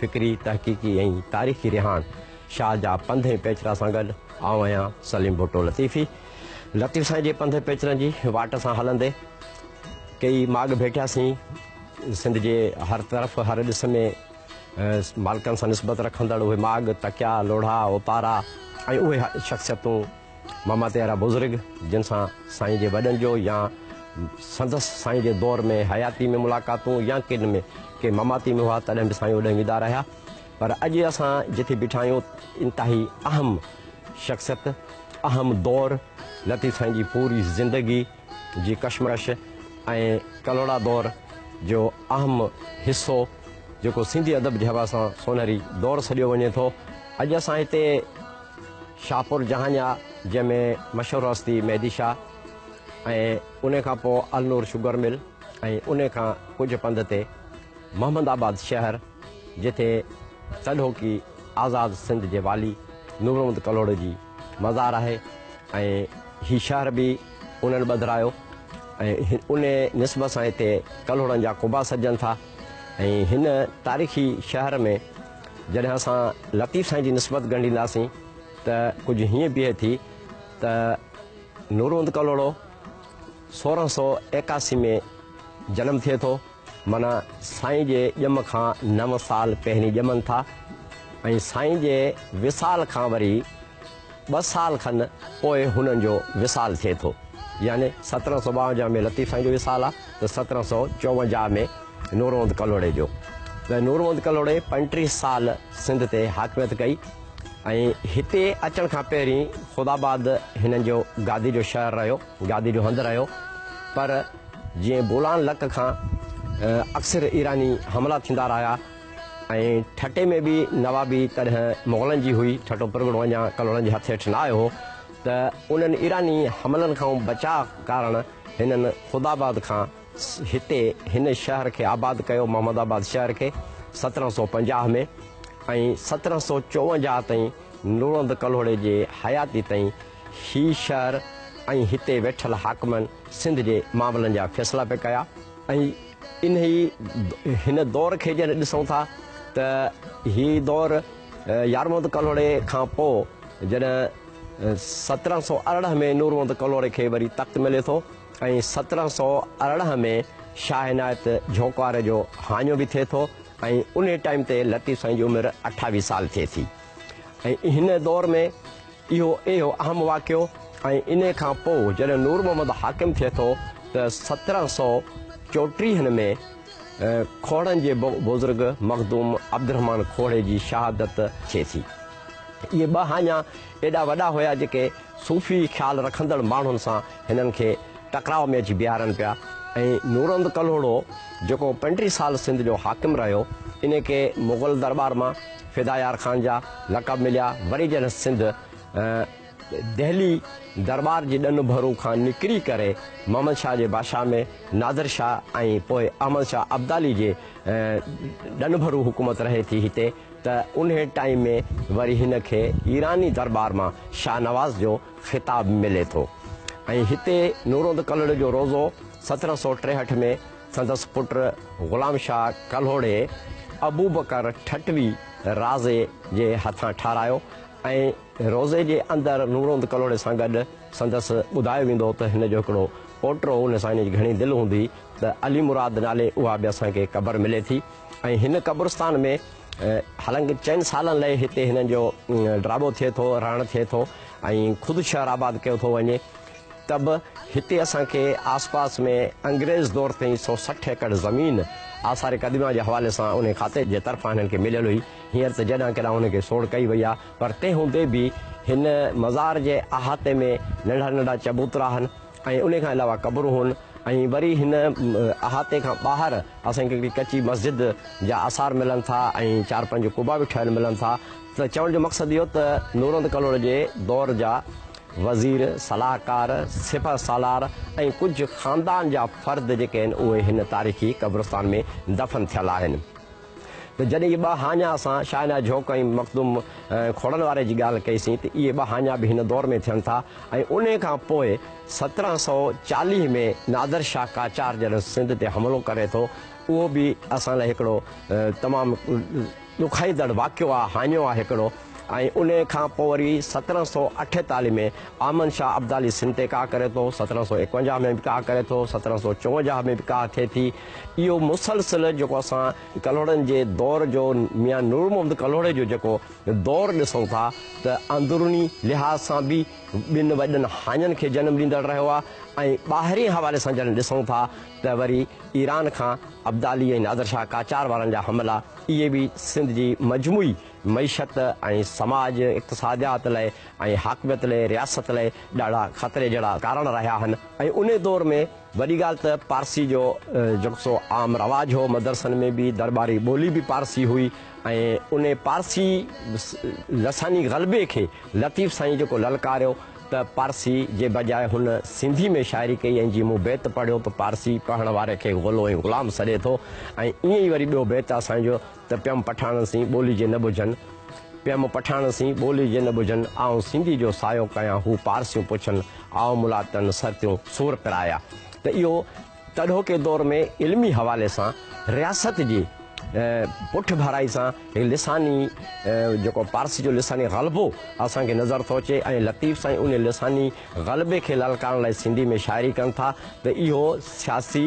فڪري، تحقيقي ۽ تاريخي رهاڻ شاهه جا پنڌ ۽ پيچرا سان گڏ آئون آهيان سليم ڀٽو لطيفي. لطيف سائين جي پنڌ پيچرن جي واٽ سان هلندي ڪيئي ماڳ ڀيٽياسين. سنڌ جي هر طرف هر ڏس ۾ مالڪن سان نسبت رکندڙ اهي ماڳ، تڪيا، لوڙها، اوپارا ۽ اهي شخصيتون ماماتي اهڙا بزرگ جن سان سائين جي وڏن جو يا سندس سائين جي دور ۾ حياتي ۾ ملاقاتون يا ڪن ۾ ڪي ماماتي ۾ هئا تڏهن به سائين اوڏانهن ويندا رهيا پر اڄ اسان جتي بيٺا آهيون انتهائي اهم شخصيت اهم دور لطيف سائين جي پوري زندگي جي ڪشمرش ۽ ڪلهوڙا دور جو اهم حصو جيڪو سنڌي ادب جي حوالي سان سونهري دور سڏيو وڃي ٿو اڄ اسان هتي شاهپور جهانيا جنهن ۾ مشهور هستي مهدي شاهه ۽ ان کان پوء النور شگر مل ۽ ان کان ڪجهه پنڌ تي محمد آباد شهر جتي تڏهوڪي آزاد سنڌ جي والي نورمحمد ڪلهوڙو جي مزار آهي ۽ هي شهر به انهن ٻڌرايو ۽ ان نسبت سان هتي ڪلهوڙن جا قبا سڏجن ٿا ۽ هن تاريخي شهر ۾ جڏهن اسان لطيف سائين جي نسبت ڳنڍينداسين ته ڪجهه هيئن بيهي ٿي ته نورهوند ڪلهوڙو سورهن سو ايڪاسي ۾ جنم ٿئي ٿو معنيٰ سائين جي ڄم کان نو سال پهرين ڄمن ٿا ۽ سائين جي وصال کان وري ٻه سال کن پوء هنن جو وصال ٿئي ٿو. يعني سترهن سؤ ٻاونجاهه ۾ لطيف سائين جو وصال آ ته سترهن سؤ چوونجاهه ۾ نورمحمد ڪلهوڙي جو. ته نورمحمد ڪلهوڙي پنجٽيهه سال سنڌ تي حاڪميت ڪئي ۽ هتي اچڻ کان پهرين خداآباد هنن جو گادي جو شهر رهيو، گادي جو هنڌ رهيو. پر جيئن بولان لڪ کان اڪثر ايراني حملا ٿيندا رهيا. ۽ ٺٽي ۾ به نوابي تڏهن مغلن جي هئي، ٺٽو پرڳڻو اڃا ڪلهوڙن جي هٿ هيٺ نه آيو هو ته انهن ايراني حملن کانئون بچاء ڪارڻ هنن خداآباد کان هتي هن شهر کي آباد ڪيو، محمد آباد شهر کي سترهن سؤ پنجاهه ۾ ۽ سترهن سؤ چوونجاهه تائين نورند ڪلهوڙي جي حياتي تائين هي شهر ۽ هتي ويٺل حاڪمن سنڌ جي معاملن جا فيصلا پئي ڪيا ۽ انهي هن دور کي جڏهن ڏسون ٿا ته هي دور يارمحمد ڪلهوڙي کان پوء جڏهن سترهن سؤ ارڙهن ۾ نورمحمد ڪلهوڙي کي وري تخت ملي ٿو ۽ سترهن سؤ ارڙهن ۾ شاهه عنايت جهونڪوار جو هاڃو به ٿئي ٿو ۽ انهي ٽائيم تي لطيف سائين جي عمر اٺاويهه سال ٿئي ٿي ۽ هن دور ۾ اهو اهو اهم واقعو ۽ ان کان پوء جڏهن نور محمد حاڪم ٿئي ٿو ته سترهن سؤ چوٽيهن ۾ کوهڙن جي بزرگ مخدوم عبدالرحمان کوهڙي جي شهادت ٿئي ٿي. اهي ٻه هاڃا ايڏا وڏا هيا جيڪي صوفي خيال رکندڙ ماڻهن سان هنن کي ٽڪراء ۾ اچي بيهارن پيا ۽ نورمحمد ڪلهوڙو جيڪو پنٽيهه سال سنڌ جو حاڪم رهيو ان کي مغل درٻار مان فدا يار خان جا لقب مليا وري جڏھن سنڌ دهلي درٻار جي ڏن ڀرون کان نڪري ڪري محمد شاھ جي بادشاھ ۾ نادر شاھ ۽ پوء احمد شاھ ابدالي جي ڏن ڀرون حڪومت رهي ٿي هتي ته انهي ٽائيم ۾ وري هن کي ايراني درٻار مان شاھ نواز جو خطاب ملي ٿو ۽ هتي نورود ڪلھڙ جو روضو سترهن سؤ ٽيهٺ ۾ سندس پٽ غلام شاهه ڪلهوڙي ابوبڪر ٺٽوي رازي جي هٿان ٺاهرايو ۽ روضي جي اندر نورهوند ڪلهوڙي سان گڏ سندس ٻڌايو ويندو هو ته هن جو هڪڙو پوٽو هو نسائيني جي گهڻي دل هوندي ته علي مراد نالي اها به اسان کي قبر ملي ٿي ۽ هن قبرستان ۾ حالانڪه چئن سالن لئي هتي هنن جو ڊرابو ٿئي ٿو رهڻ ٿئي ٿو ۽ خود شهر آباد ڪيو ٿو وڃي. ته به هتي اسان کي آس پاس ۾ انگريز دور تائين سؤ سٺ ايڪڙ زمين آثار قديمه جي حوالي سان انهي کاتي جي طرفان هنن کي مليل هئي. هينئر ته جڏهن ڪڏهن انهن کي سوڙ ڪئي وئي آهي پر تنهن هوندي به هن مزار جي احاطي ۾ ننڍا ننڍا چبوترا هن ۽ انهي کان علاوه قبرون هن ۽ وري هن احاطي کان ٻاهر اسان کي هڪڙي ڪچي مسجد جا آثار ملن ٿا ۽ چار پنج قبا به ٺهيل ملن ٿا ته چوڻ جو مقصد اهو ته نورهند ڪلهوڙ جي دور جا وزير، صلاحڪار، سپهه سالار ۽ ڪجهه خاندان جا فرد جيڪي آهن اهي هن تاريخي قبرستان ۾ دفن ٿيل آهن ته جڏهن اهي ٻه هاڃا اسان شاهه عنايت جهوڪ ۽ مخدوم کوڙن واري جي ڳالهه ڪئي سين ته اهي ٻه هاڃا به هن دور ۾ ٿين ٿا ۽ انهي کان پوء سترهن سؤ چاليهه ۾ نادر شاهه قاچار جڏهن سنڌ تي حملو ڪري ٿو اهو به اسان لاء هڪڙو تمام ڏکائيندڙ واقعو آ هاڃو آ هڪڙو ۽ انهي کان پوء وري سترهن سؤ اٺيتالهه ۾ آمن شاهه ابدالي سنڌ تي ڪاهه ڪري ٿو، سترهن سؤ ايڪونجاهه ۾ به ڪاهه ڪري ٿو، سترهن سؤ چونجاهه ۾ به ڪاهه ٿئي ٿي. اهو مسلسل جيڪو اسان ڪلهوڙن جي دور جو ميان نور محمد ڪلهوڙي جو جيڪو دور ڏسون ٿا ته اندروني لحاظ سان به ٻن وڏن هاڃن کي جنم ڏيندڙ رهيو آ ۽ ٻاهرين حوالي سان جڏهن ڏسون ٿا ته وري ايران کان ابدالي ۽ نادر شاهه قاچار وارن جا حملا اهي به سنڌ جي مجموعي معيشت ۽ سماج اقتصاديات لئه ۽ حاڪميت لئه رياست لئه ڏاڍا خطري جهڙا ڪارڻ رهيا آهن ۽ انهي دور ۾ وڏي ڳالهه ته پارسي جو جيڪو سو عام رواج هو مدرسن ۾ به درٻاري ٻولي به پارسي هئي ۽ انهي پارسي لساني غلبي کي لطيف سائين جيڪو للڪاريو ته پارسي جي بجاء هن سنڌي ۾ شاعري ڪئي ۽ جي مون بيت پڙهيو ته پارسي پڙهڻ واري کي غلو ۽ غلام سڏي ٿو ۽ ائين ئي وري ٻيو بيت اسان جو ته پيم پٺاڻن سين ٻولي جي نه ٻجهن پيم پٺاڻن سين ٻولي جي نه ٻجهن آئون سنڌي جو سايو ڪيان هو پارسيون پڇن آئون ملاتن سرتيون سور پرايا ته اهو تڏهوڪي دور ۾ علمي حوالي سان رياست جي پٺڀرائي سان هي لساني جيڪو پارسي جو لساني غلبو اسان کي نظر ٿو اچي ۽ لطيف سائين ان لساني غلبي کي للڪارڻ لاء سنڌي ۾ شاعري ڪن ٿا ته اهو سياسي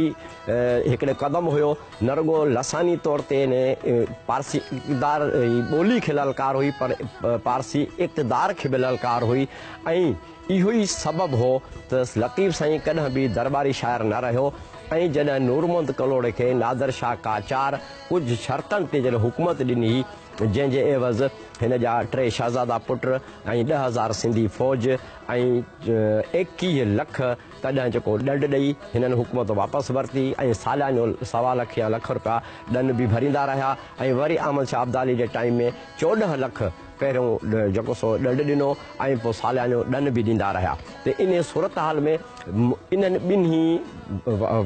هڪڙي قدم هيو نه رڳو لساني طور تي ان پارسي اقتدار ٻولي کي للڪار هئي پر پارسي اقتدار کي به للڪار هئي ۽ اهو ئي سبب هو ته لطيف سائين ڪڏهن به درٻاري شاعر نه رهيو ۽ جڏهن نورمحمد ڪلهوڙي کي نادر شاهه قاچار ڪجهه شرطن تي جڏهن حڪومت ڏني هئي جنهن جي عيوض هن جا ٽي شهزادا پٽ ۽ ڏهه هزار سنڌي فوج ۽ ايڪيهه لک تڏهن جيڪو ڏنڊ ڏئي هنن حڪومت واپس ورتي ۽ ساليانو سوا لک يا لک رپيا ڏن به ڀريندا رهيا ۽ وري احمد شاهه ابدالي جي ٽائيم ۾ چوڏهن لک پهريون ڏهه جيڪو سو ڏنڊ ڏنو ۽ پوء ساليانو ڏن به ڏيندا رهيا ته انهيء صورتحال ۾ انهن ٻنهي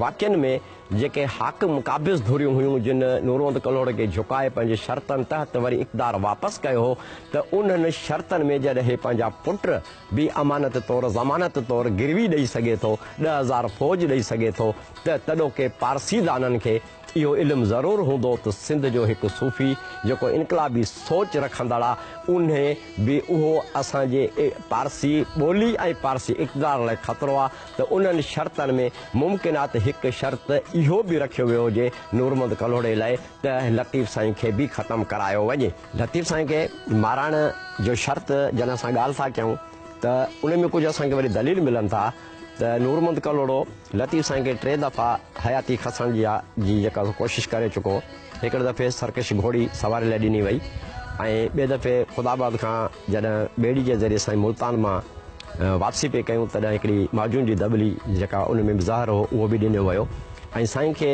واقعن ۾ جيڪي حاڪم قابض ڌريون هيون جن نوروند ڪلهوڙي کي جهڪائي پنهنجي شرطن تحت وري اقتدار واپس ڪيو هو ته انهن شرطن ۾ جڏهن هي پنهنجا پٽ به امانت طور ضمانت طور گروي ڏئي سگهي ٿو ڏهه هزار فوج ڏئي سگهي ٿو ته تڏهوڪي پارسيدانن کي اهو علم ضرور هوندو ته سنڌ جو هڪ صوفي جيڪو انقلابي سوچ رکندڙ آ انهي به اهو اسان جي پارسي ٻولي ۽ پارسي اقتدار لاء خطرو آ ته انهن شرطن ۾ ممڪن آ ته هڪ شرط اهو به رکيو ويو هجي نورمحمد ڪلهوڙي لاء ته لطيف سائين کي به ختم ڪرايو وڃي. لطيف سائين کي مارائڻ جو شرط جڏهن اسان ڳالهه ٿا ڪيون ته انهي ۾ ڪجهه اسان کي وري دليل ملن ٿا. ته نورمحمد ڪلهوڙو لطيف سائين کي ٽي دفعا حياتي کسڻ جي جي جيڪا ڪوشش ڪري چڪو. هڪڙي دفعي سرڪش گهوڙي سواري لاء ڏني وئي ۽ ٻئي دفعي خدا آباد کان جڏهن ٻيڙي جي ذريعي سائين ملتان مان واپسي پئي ڪيون تڏهن هڪڙي معجون جي دٻلي جيڪا ان ۾ به زهر هو اهو به ڏنو ويو ۽ سائين کي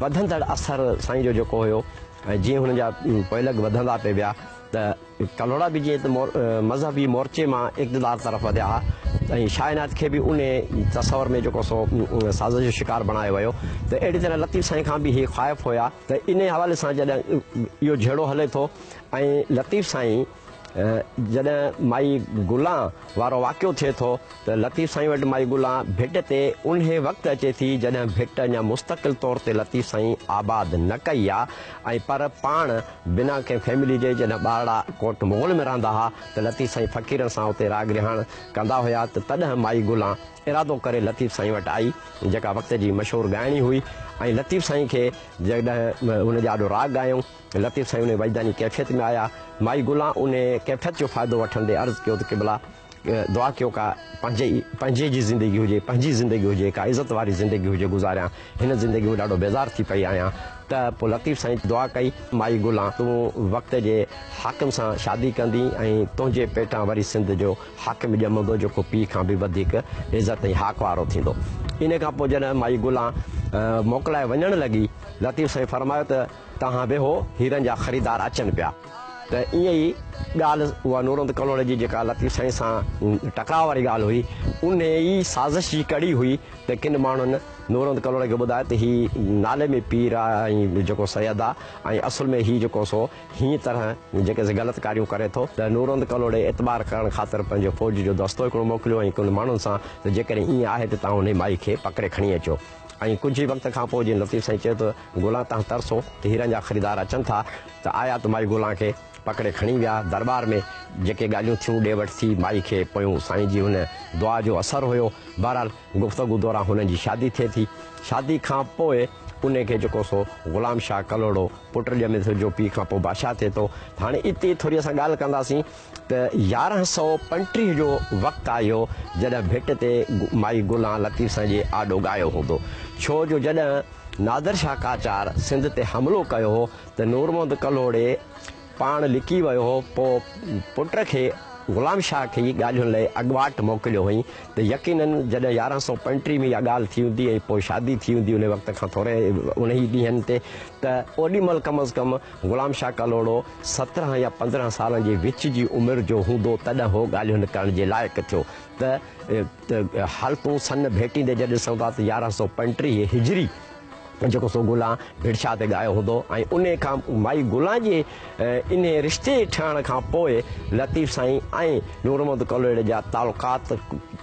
وڌندڙ اثر سائين جو جيڪو هيو ۽ جيئن هن جا پوئلڳ وڌندا پئي ويا ته ڪلهوڙا به جيئن ته مذهبي مورچي مان اقتدار طرف وڌيا ها ۽ شاهه عنايت کي به انهيء تصور ۾ جيڪو سو سازش جو شڪار بڻايو ويو ته اهڙي طرح لطيف سائين کان به هي خائف هيا ته انهيء حوالي سان جڏهن اهو جهيڙو هلي ٿو ۽ لطيف سائين جڏهن مائي گلان وارو واقعو ٿئي ٿو ته لطيف سائين وٽ مائي گلان ڀٽ تي انهيء وقت اچي ٿي جڏهن ڀٽ اڃا مستقل طور تي لطيف سائين آباد نه ڪئي آ ۽ پر پاڻ بنا ڪنهن فيملي جي جڏهن ٻارڙا ڪوٽ مغل ۾ رهندا ها ته لطيف سائين فقيرن سان اتي راڳ رهاڻ ڪندا هيا ته تڏهن مائي گلان ارادو ڪري لطيف سائين وٽ آئي جيڪا وقت جي مشهور ڳائڻي هئي ۽ لطيف سائين کي جڏهن ان جي آڏو راڳ ڳايائون لطيف سائين انهي وجداني ڪيفيت ۾ آيا مائي گلان انهي ڪيفيت جو فائدو وٺندي عرض ڪيو ته قبلا دعا ڪيو ڪا پنهنجي ئي پنهنجي جي زندگي هجي پنهنجي زندگي هجي ڪا عزت واري زندگي هجي گذاريان هن زندگي مان ڏاڍو بيزار ٿي پئي آهيان ته پوء لطيف سائين دعا ڪئي مائي گلان تون وقت جي حاڪم سان شادي ڪندين ۽ تنهنجي پيٽان وري سنڌ جو حاڪم ڄمندو جيڪو پيء کان به وڌيڪ عزت ۽ حاڪ وارو ٿيندو ان کان پوء جڏهن مائي گلان موڪلائي وڃڻ لڳي لطيف سائين فرمايو ته توهان ويهو هيرن جا خريدار اچن پيا. ته ائين ئي ڳالهه اها نورند ڪلهوڙي جي جيڪا لطيف سائين سان ٽڪراء واري ڳالهه هئي، ان ئي سازش جي ڪڙي هئي ته ڪن ماڻهن نورند ڪلهوڙي کي ٻڌايو ته هي نالي ۾ پير آ ۽ جيڪو سيد آ ۽ اصل ۾ هي جيڪو سو هينئن طرح جيڪي سي غلط ڪاريون ڪري ٿو. ته نورند ڪلهوڙي اعتبار ڪرڻ خاطر پنهنجو فوج جو دستو هڪڙو موڪليو ۽ ڪن ماڻهن سان ته جيڪڏهن ائين آهي ته توهان انهي مائي کي پڪڙي کڻي اچو. ۽ ڪجهه ئي وقت کان پوء جي لطيف سائين چيو ته گلان تهان ترسو ته هيرن جا خريدار اچن ٿا ته آيا ته مائي گلان کي پڪڙي کڻي ويا درٻار ۾ جيڪي ڳالهيون ٿيون ڏي وٺ ٿي مائي کي پويون سائين جي هن دعا جو اثر هيو بهرحال گفتگو دوران هنن جي شادي ٿئي ٿي شادي کان پوء انهي کي جيڪو سو غلام شاهه ڪلهوڙو پٽ ڄمي ٿو جو پيء کان پوء بادشاهه ٿئي ٿو هاڻي اتي ٿوري اسان ڳالهه ڪنداسين ته يارهن سؤ پنٽيهه جو وقت آيو جڏهن ڀٽ تي مائي گلان لطيف سائين جي آڏو ڳايو هوندو ڇو جو جڏهن نادر شاهه قاچار سنڌ تي حملو ڪيو هو ته نورمحمد ڪلهوڙي پاڻ لڪي ويو هو پوء پٽ کي غلام شاهه کي ئي ڳالهين لئي اڳواٽ موڪليو هئين ته يقيناً جڏهن يارهن سؤ پنٽيهه ۾ اها ڳالهه ٿي هوندي ۽ پوء شادي ٿي هوندي انهي وقت کان ٿوري انهي ڏينهن تي ته اوڏي مهل ڪم از ڪم غلام شاهه ڪلهوڙو سترهن يا پندرهن سالن جي وچ جي عمر جو هوندو تڏهن هو ڳالهيون ڪرڻ جي لائق ٿيو ته حالتون سن ڀيٽيندي جڏهن ڏسون ٿا ته يارهن سؤ پنٽيهه هجري جيڪو سو گلان ڀرشا تي ڳايو هوندو ۽ انهي کان مائي گلان جي انهي رشتي ٺهڻ کان پوء لطيف سائين ۽ نورمحمد ڪلهوڙي جا تعلقات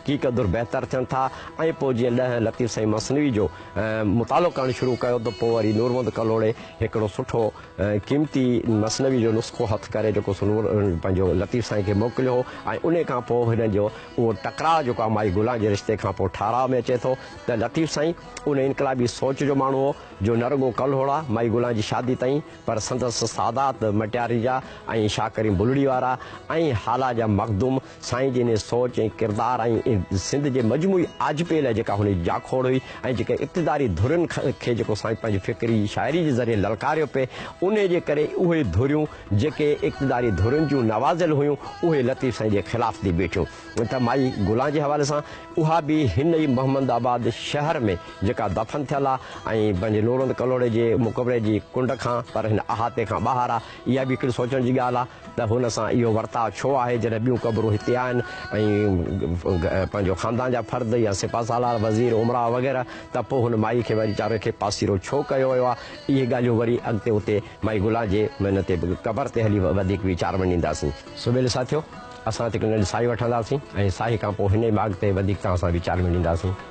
ڪي قدر بهتر ٿين ٿا ۽ پوء جيئن ڏهن لطيف سائين مثنوي جو مطالعو ڪرڻ شروع ڪيو ته پوء وري نورمحمد ڪلهوڙي هڪڙو سٺو ۽ قيمتي مثنوي جو نسخو هٿ ڪري جيڪو سو نور پنهنجو لطيف سائين کي موڪليو هو ۽ انهي کان پوء هنن جو اهو ٽڪراء جيڪو آء مائي گلان جي رشتي کان پوء ٺهراء ۾ اچي ٿو ته لطيف سائين ان انقلابي سوچ جو ماڻهو هو جو نه رڳو ڪلهوڙا مائي گلان جي شادي تائين پر سندس سادات مٽياري جا ۽ شاهه ڪريم بلڙي وارا ۽ هالا جا مخدوم سائين جن جي سوچ ۽ ڪردار ۽ سنڌ جي مجموعي آجپي لاء جيڪا هن جي جاکوڙ هئي ۽ جيڪا اقتداري ڌرين کي جيڪو سائين پنهنجي فڪري شاعري جي ذريعي للڪاريو پئي انهي جي ڪري اهي ڌريون جيڪي اقتداري ڌرين جون نوازيل هيون اهي لطيف سائين جي خلاف ٿي بيٺيون ته مائي گلان جي حوالي سان اها به هن ئي محمد آباد شهر ۾ جيڪا دفن ٿيل آ ۽ پنهنجي لوڙهند ڪلهوڙي جي مقبري جي ڪنڊ کان پر هن احاطي کان ٻاهر آ اها به هڪڙي سوچڻ جي ڳالهه آ. ته هن سان اهو ورتاء ڇو آهي، جڏهن ٻيون قبرون هتي آهن ۽ پنهنجو خاندان جا فرد يا سپهه سالار، وزير، امراء وغيره ته پوء هن مائي کي ويچاري کي پاسيرو ڇو ڪيو ويو آهي؟ اهي ڳالهيون وري اڳتي اتي مائي گلان جي هن تي قبر تي هلي وڌيڪ ويچار ونڊينداسين. سويل ساٿيو! اسان هتي ڪنهن ڏينهن ساهي وٺنداسين ۽ ساهي کان پوء هن ئي ماڳ تي وڌيڪ توهان سان ويچار ونڊينداسين.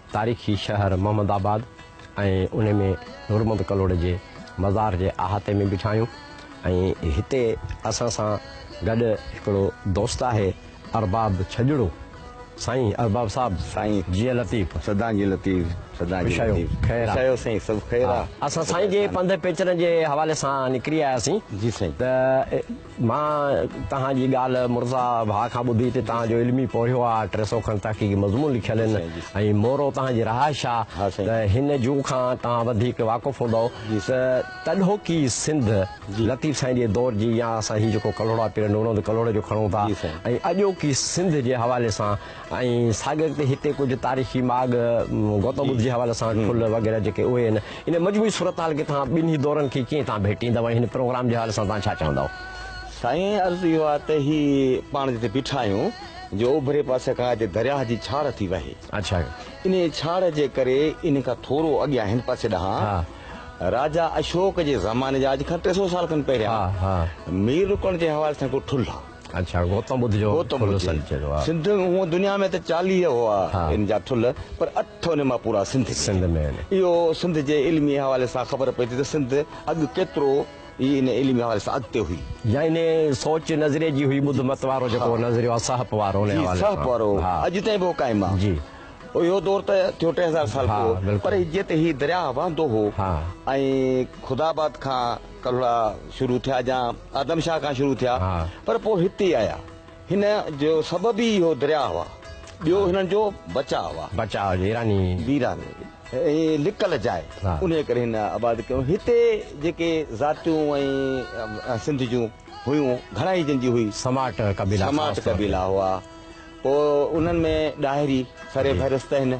تاريخي شهر محمد آباد ۽ ان ۾ نورمحمد ڪلهوڙي جي مزار جي احاطي ۾ بيٺا آهيون ۽ هتي اسان سان گڏ هڪڙو دوست آهي ارباب ڇڄڙو سائين ارباب صاحب سائين جيئي لطيف سدا جي لطيف سدا جي لطيف خير آ سائين سڀ خير آ اسان سائين جي پنڌ پيچرن جي حوالي سان نڪري آياسين جي سائين ته مان توهان جي ڳالهه مرزا ڀاء کان ٻڌي تي توهان جو علمي پورهيو آ ٽي سئو کن تحقيقي مضمون لکيل ان ۽ مورو توهان جي رهائش آ ته هن جون کان توهان وڌيڪ واقف هوندئو ته تڏهوڪي سنڌ لطيف سائين جي دور جي يا اسان هي جيڪو ڪلهوڙا پيرن هوندو ڪلهوڙي جو کڻون ٿا ۽ اڄوڪي سنڌ جي حوالي سان ۽ ساڳئي ريت هتي ڪجهه تاريخي ماڳ گوتم ٻڌ جي حوالي سان ٺل وغيره جيڪي اهي آهن ان مجموعي صورتحال کي توهان ٻنهي دورن کي ڪيئن توهان ڀيٽيندؤ ۽ هن پروگرام جي حوالي سان توهان ڇا چوندؤ؟ سائين عرض اهو آهي ته هي پاڻ جتي بيٺا آهيون جو اوڀري پاسي کان هتي درياهه جي ڇاڙهه ٿي وهي اڇا انهي ڇاڙهه جي ڪري انهي کان ٿورو اڳيان هن پاسي ڏانهن ها راجا اشوڪ جي زماني جا اڄ کان ٽي سؤ سال کن پهريان ها ها مير رڪڻ جي حوالي سان هڪڙو ٺل آهي اڇا گوتم ٻڌ جو ٺلهه سنڌ چيو ويو آهي. سنڌ هونء دنيا ۾ ته چاليهه هئا ان جا ٺلهه پر اٺ ان مان پورا سنڌ ۾ آهن. اهو سنڌ جي علمي حوالي سان خبر پئي ٿي ته سنڌ اڳ ڪيترو ئي ان علمي حوالي سان اڳتي هئي. يا ان سوچ نظريي جي هئي ٻڌ مت وارو جيڪو نظريو آهي سهپ وارو ان حوالي سان. جي سهپ وارو اڄ تائين به هو قائم آهي. اهو دور ته ٿيو ٽي هزار سال پوء پر جيئن ته هي درياهه وهندو هو ۽ خداآباد کان ڪلهوڙا شروع ٿيا جا آدم شاهه کان شروع ٿيا پر پوء هتي آيا هن جو سبب ئي اهو درياء هئا ٻيو هنن جو بچاء هئا بچاء ويراني ويراني هي لڪل جاء انهي ڪري هن آباد ڪيو هتي جيڪي ذاتيون ۽ سنڌ جون هيون گهڻائي جن جي هئي سماٽ قبيلا سماٽ قبيلا هئا پوء انهن ۾ ڏاهري سري فهرست آهن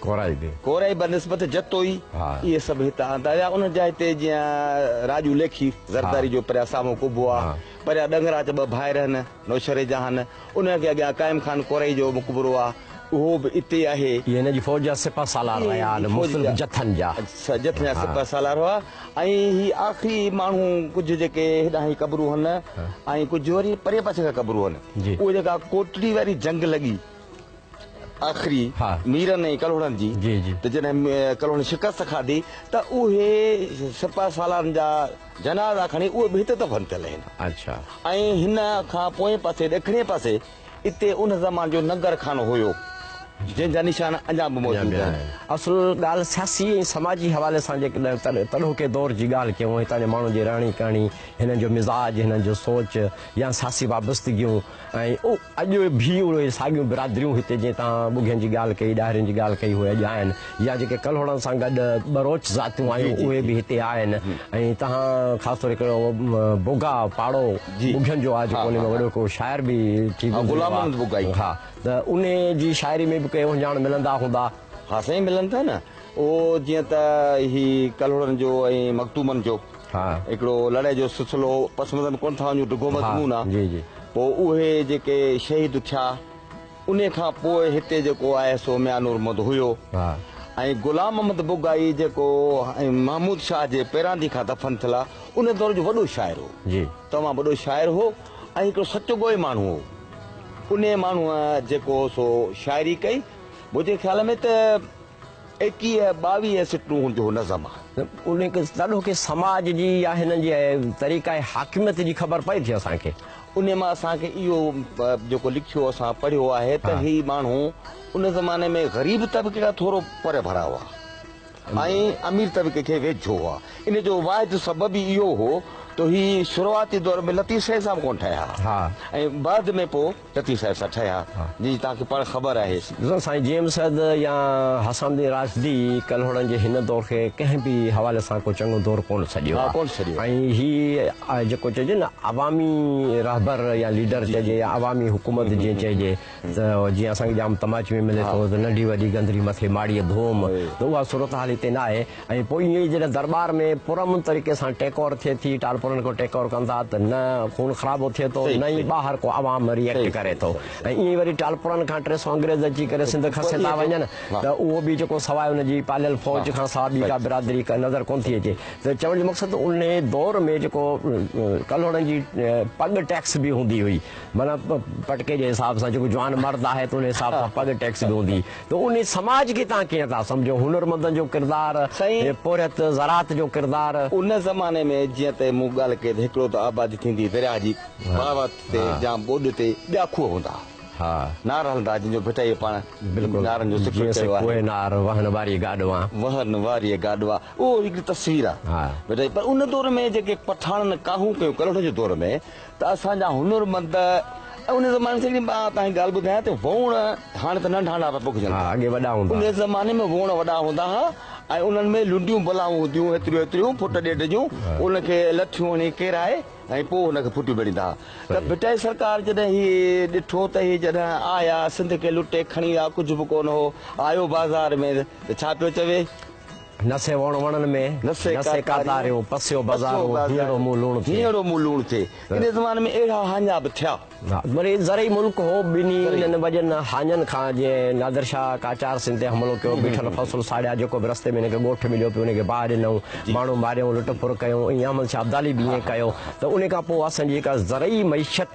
ڪورائي به. ڪورائي بنسبت جتوئي اهي سڀ هت آندا ويا. انهن جا هتي جيئن راڄو ليکي زرداري جو پريا سامهون قبو آ. پريا ڏنگرا چ ٻه ڀائر هن، نوشهري جا هن. انهن کي اڳيان قائم خان ڪورائي جو مقبرو آ. اهو به اتي آهي. اهي هن جي فوج جا سپه سالار رهيا آهن، مختلف جٿن جا. جٿن جا سپه سالار هئا ۽ هي آخري ماڻهو ڪجهه جيڪي هيڏانهن هي قبرون هن ۽ ڪجهه وري پرئين پاسي کان قبرون هن. اهي جيڪا ڪوٽڙي واري جنگ لڳي. آخري ميرن ۽ ڪلهوڙن جي ته جڏهن ڪلهوڙن شڪست کاڌي ته اهي سپهه سالارن جا جنازا کڻي اهي به هتي دفن ٿيل آهن ۽ هن کان پوئين پاسي ڏکڻي پاسي اتي ان زمان جو ننگر خانو هيو جنهن جا نشان اڃا به موجود آهن. اصل ڳالهه سياسي ۽ سماجي حوالي سان جيڪڏهن تڏهوڪي دور جي ڳالهه ڪيون هتان جي ماڻهن جي رهڻي ڪهڻي هنن جو مزاج هنن جو سوچ يا سياسي وابستگيون ۽ اڄ ڀي اهي ساڳيون برادريون هتي جئين تان ٻگهين جي ڳالهه ڪئي، ڏاهرين جي ڳالهه ڪئي اهي اڄ آهن يا جيڪي ڪلهوڙن سان گڏ ٻروچ ذاتيون آيون اهي به هتي آهن ۽ تهان خاص طور هڪڙو بوگا پاڙو ٻگهين جو آهي جيڪو ان ۾ وڏو هڪڙو شاعر به ٿي گذريو آهي ها ته ان جي شاعري ۾ به ڪي اهنجاڻ ملندا هوندا. ها سائين ملن ٿا نه اهو جيئن ته هي ڪلهوڙن جو ۽ مخدومن جو. هڪڙو لڙائي جو سلسلو پس منظر ڪونه ٿا وڃون ڊگهو مضمون آ پوء اهي جيڪي شهيد ٿيا انهي کان پوء هتي جيڪو آهي سو ميان نور محمد هيو ۽ غلام محمد بگائي جيڪو محمود شاهه جي پيراندي کان دفن ٿيل آ انهي دور جو وڏو شاعر هو تمام وڏو شاعر هو ۽ هڪڙو سچو ڳوهي ماڻهو هو انهي ماڻهوء جيڪو سو شاعري ڪئي منهنجي خيال ۾ ته ايڪيهه ٻاويهه سٽون هن جو نظم آهي. ان تڏو کي سماج جي يا هنن جي طريقه حاڪميت جي خبر پئي ٿي اسان کي. انهي مان اسان کي اهو جيڪو لکيو اسان پڙهيو آهي ته هي ماڻهو ان زماني ۾ غريب طبقي کان ٿورو پري ڀرا هئا ۽ امير طبقي کي ويجهو هئا. ان جو واحد سبب ئي اهو هو ته هي شروعاتي دور ۾ لطيف سائين صاحب ڪونه ٺهيا هئا ۽ بعد ۾ پوء لطيف صاحب سان ٺهيا جن جي توهان کي پڻ خبر آهي. سائين جي ايم سيد يا حسام الدين راشدي ڪلهوڙن جي هن دور کي ڪنهن به حوالي سان ڪو چڱو دور ڪونه سڏيو آهي ۽ هي جيڪو چئجي نه عوامي رهبر يا ليڊر چئجي يا عوامي حڪومت جيئن چئجي ته جيئن اسان کي ڄام تماچ ۾ ملي ٿو ته ننڍي وڏي گندري مٿي ماڙيء ڌوم ته اها صورتحال هتي ناهي. ۽ پوء ائين ئي جڏهن درٻار ۾ پرامن طريقي سان ٽيڪاور ٿئي ٿي، ٽالپرن کي ٽيڪاور ڪن ٿا ته نه خون خرابو ٿئي ٿو نه ئي ٻاهر ڪو عوام ري ايڪٽ ڪري ٿو ۽ ائين ئي وري ٽالپرن کان ٽي سؤ انگريز اچي ڪري سنڌ کسي ٿا وڃن ته اهو به جيڪو سواء ان جي پاليل فوج کان سا ٻي ڪا برادري نظر ڪونه ٿي اچي ته چوڻ جو مقصد انهي دور ۾ جيڪو ڪلهوڙن جي پڳ ٽيڪس به هوندي هئي معنيٰ پٽڪي جي حساب سان جيڪو جوان مرد آهي ته انهي حساب سان پڳ ٽيڪس به هوندي ته ان سماج کي توهان ڪيئن ٿا سمجهو؟ هنرمندن جو ڪردار، سائين! پورهيت، زراعت جو ڪردار. ان زماني ۾ جيئن ته مون ڳالهه ڪئي ته هڪڙو ته آبادي ٿيندي درياهه جي پاوت تي يا ٻوڏ تي ٻيا کوهه هوندا ها، نار هلندا ها جن جو ڀٽائيء پاڻ نارن جو ذڪر ڪيو آهي. ڪوهه نار، وهن واريء گاڏوا. وهن واريء گاڏوا اهو هڪڙي تصوير آهي ڀٽائيء جي پر ان دور ۾ جيڪي پٺاڻن ڪاهون ڪيون ڪلهوڙن جي دور ۾. ته اسان جا هنرمند ۽ ان زماني سڄي مان تهانکي ڳالهه ٻڌايان ته ووڻ هاڻي ته ننڍا ننڍا پيا پوکجن ها اڳي وڏا هوندا ان زماني ۾ ووڻ وڏا هوندا ها ۽ انهن ۾ لنڊيون بلاون هونديون هيتريون هيتريون فٽ ڏيڍ جون ان کي لٺيون هڻي ڪيرائي ۽ پوء ان کي ڦٽيون ڀيڙيندا ها ته ڀٽائي سرڪار جڏهن هي ڏٺو ته هي جڏهن آيا سنڌ کي لٽي کڻي ويا ڪجهه به ڪونه هو آيو بازار ۾ ته ڇا پيو چوي نه سي وڻ وڻن ۾، نه سي ڪاتاريون، پسيو بزارون، هينئڙو منهن لوڻ ٿئي. هينئڙو منهن لوڻ ٿئي. انهيء زماني ۾ اهڙا هاڃا به ٿيا. وري زرعي ملڪ هو. ٻنهي انهن وڏين هاڃن کان جيئن نادر شاهه قاچار سنڌ تي حملو ڪيو، بيٺل فصل ساڙيا، جيڪو به رستي ۾ هن کي ڳوٺ مليو پيو، ان کي باهه ڏنائون، ماڻهو ماريائون، لٽ ڦر ڪيائون، ائين احمد شاهه ابدالي به ائين ڪيو ته ان کان پوء اسان جي جيڪا زرعي معيشت،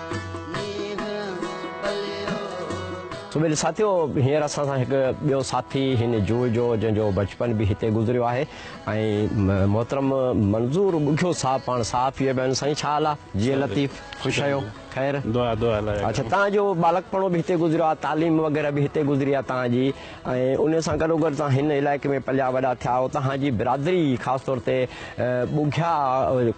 سمير ساٿيو هينئر اسان سان هڪ ٻيو ساٿي هن جوء جو جنهن جو بچپن به هتي گذريو آهي ۽ محترم منظور ٻگهيو صاحب پاڻ صحافي به آهن سائين ڇا حال آهي جيئي لطيف خوش آهيو خير دعا دعا لاء اڇا تنهنجو ٻالڪپڻو به هتي گذريو آهي تعليم وغيره به هتي گذري آهي تنهنجي ۽ ان سان گڏوگڏ توهان هن علائقي ۾ پليا وڏا ٿيا آهيو، توهان جي برادري خاص طور تي ٻگهيا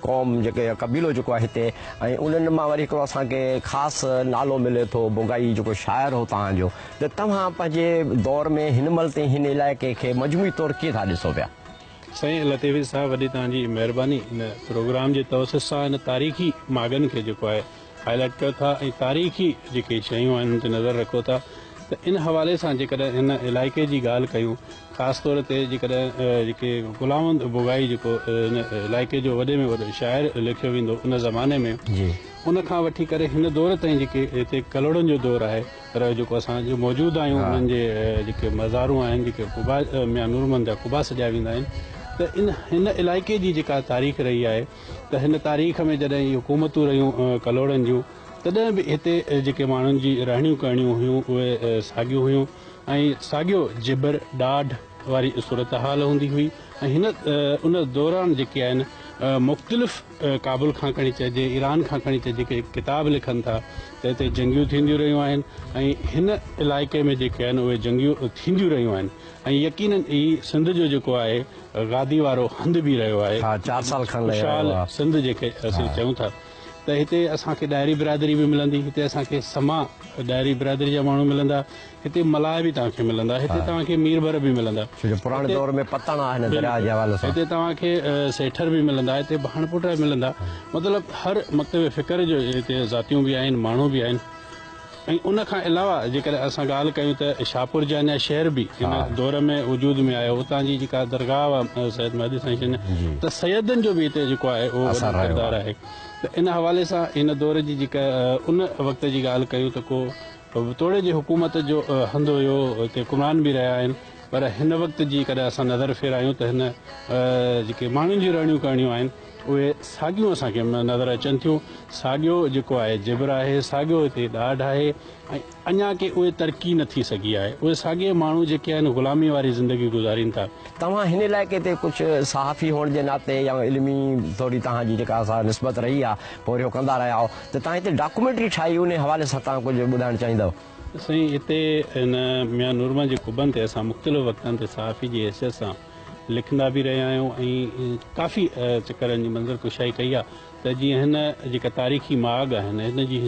قوم جيڪي قبيلو جيڪو آهي هتي ۽ انهن مان وري هڪڙو اسان کي خاص نالو ملي ٿو بگهائي جيڪو شاعر هو توهان جو ته توهان پنهنجي دور ۾ هن مهل تائين هن علائقي کي مجموعي طور ڪيئن ٿا ڏسو پيا؟ سائين لطيفي صاحب وڏي توهان جي مهرباني ان پروگرام جي توسط سان ان تاريخي ماڳن کي جيڪو آهي هاء لائيٽ ڪيو ٿا ۽ تاريخي جيڪي شيون آهن ان تي نظر رکو ٿا ته ان حوالي سان جيڪڏهن هن علائقي جي ڳالهه ڪيون خاص طور تي جيڪڏهن جيڪي غلام بگائي جيڪو ان علائقي جو وڏي ۾ وڏو شاعر ليکيو ويندو ان زماني ۾ ان کان وٺي ڪري هن دور تائين جيڪي هتي ڪلهوڙن جو دور آهي پر جيڪو اسان جو موجود آهيون انهن جي جيڪي مزارون آهن جيڪي قبا ميان نورمحمد جا قبا سڏيا ويندا آهن ته ان هن علائقي جي جيڪا تاريخ رهي آهي ته هن تاريخ ۾ جڏهن هي حڪومتون رهيون ڪلهوڙن جون تڏهن به هتي جيڪي ماڻهن جي رهڻيون ڪهڻيون هيون اهي ساڳيون هيون ۽ ساڳيو جبر ڏاڍ واري صورتحال هوندي هئي ۽ هن ان دوران جيڪي آهن مختلف ڪابل کان کڻي چئجي ايران کان کڻي چئجي جيڪي ڪتاب لکن ٿا ته هتي جنگيون ٿينديون رهيون آهن ۽ هن علائقي ۾ جيڪي آهن اهي جنگيون ٿينديون رهيون آهن ۽ يقينن ئي سنڌ جو جيڪو آهي گادي وارو هنڌ به رهيو آهي. ها چار سال کن لڳي ويو آهي. خوشحال سنڌ جيڪي اسين چئون ٿا ته هتي اسان کي ڏاهري برادري به ملندي هتي اسان کي سما ڏاهري برادري جا ماڻهو ملندا هتي ملاح به توهان کي ملندا هتي توهان کي مير ڀر به ملندا ڇو جو پراڻي دور ۾ پتڻ آهي هن درياء جي حوالي سان هتي توهان کي سيٺر به ملندا هتي ڀاڻ پوٽا به ملندا مطلب هر مڪتب فڪر جو هتي ذاتيون به آهن ماڻهو به آهن. ۽ ان کان علاوه جيڪڏهن اسان ڳالهه ڪيون ته شاهپور جي اڃا شهر به ان دور ۾ وجود ۾ آيو اتان جي جيڪا درگاهه هئا سيد مهدي سائين جن ته سيدن جو به هتي جيڪو آهي اهو وڏو ڪردار آهي ته ان حوالي سان ان دور جي جيڪا ان وقت جي ڳالهه ڪيون ته ڪو توڙي جي حڪومت جو هنڌ هيو هتي حڪمران به رهيا آهن پر هن وقت جي ڪڏهن اسان نظر ڦيرايون ته هن جيڪي ماڻهن جي رهڻيون ڪهڻيون آهن اهي ساڳيون اسان کي نظر اچن ٿيون ساڳيو جيڪو آهي جبر آهي ساڳيو هتي ڏاڍ آهي ۽ اڃا ڪي اهي ترقي نه ٿي سگهي آهي اهي ساڳي ماڻهو جيڪي آهن غلامي واري زندگي گذارين ٿا. توهان هن علائقي تي ڪجهه صحافي هئڻ جي ناتي يا علمي طوري توهان جي جيڪا سا نسبت رهي آهي پورهيو اهو ڪندا رهيا آهو ته توهان هتي ڊاڪومينٽري ٺاهي انهي حوالي سان توهان ڪجهه ٻڌائڻ چاهيندؤ. سائين هتي هن ميان نورمحمد جي قبن تي اسان مختلف وقتن تي صحافي جي حيثيت سان لکندا به رهيا آهيون ۽ ڪافي چڪرن جي منظر ڪشائي ڪئي آهي ته جيئن هن جيڪا تاريخي ماڳ آهن هن جي